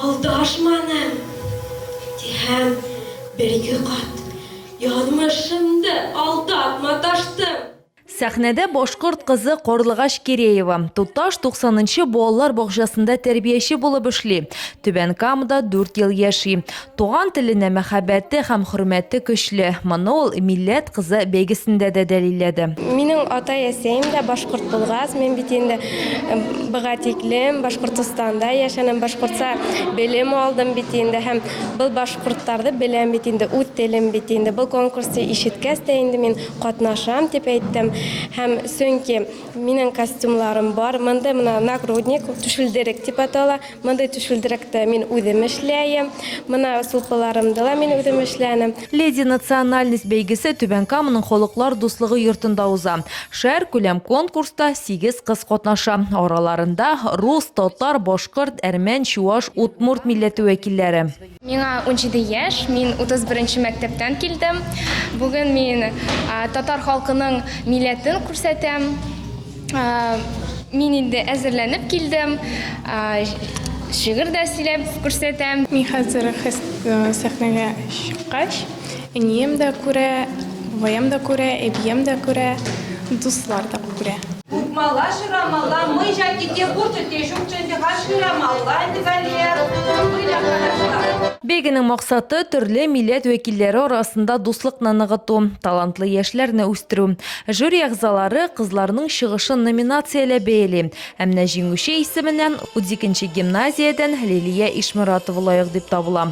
Алдашманым! ди һәм бер-ике кат, Язмышымды алдап маташтым! Сәхнәдә башкорт кызы Карлыгач Киреева, Туташ 90 нчы балалар бакчасында тәрбияче булып эшли, Түбән Камада дүрт ел яши. Туган теленә мәхәббәте һәм хөрмәте көчле. Моны ул Милләт кызы бәйгесендә дә дәлилләде. Минем атай-әсәем дә башкорт булгац, мин бит инде быга тиклем Башкортостанда яшәнем, башкортса белем алдым бит инде һәм был башкорттарды беләм бит инде, үз телем бит инде. Был конкурсты ишеткәч тә инде мин катнашам, дип әйттем. Һәм чөнки минем костюмларым бар. Мондый менә нагрудник, шүлдерек дип атала. Мондый түшүлдерәктә мин үзем эшләем, менә сулпыларымда да мин үзем эшләнем. Леди национальность бәйгесе Түбән Каманың Халыклар дуслыгы йортында уза. Шәһәр күләм конкурста сигез кыз катнаша, араларында, рус, татар, башкорт, әрмән, чуаш, удмурт милләте вәкилләре. Миңа унҗиде яшь, мин утыз беренче мәктәптән килдем. Бүген мин татар халкының милләтен күрсәтәм. Мин инде әзерләнеп килдем. Шигырь дә сөйләп күрсәтәм. Мин хәзер сәхнәгә чыккач, Әнием дә күрә, бабаем да күрә, әбием дә күрә, дуслар да күрә. Кукмала шырамала, мы жа ките кушать те жукченде ха шырамала ди Галия. Куй да карашлар. Бәйгенең максаты, төрле милләт вәкилләре арасында дуслыкны ныгыту, талантлы яшьләрне үстерү. Жюри әгъзалары кызларның чыгышын номинацияләп бәяли, ә менә җиңүче исеменә, утикенче гимназиядән Лилия Ишморатова лаек дип табыла.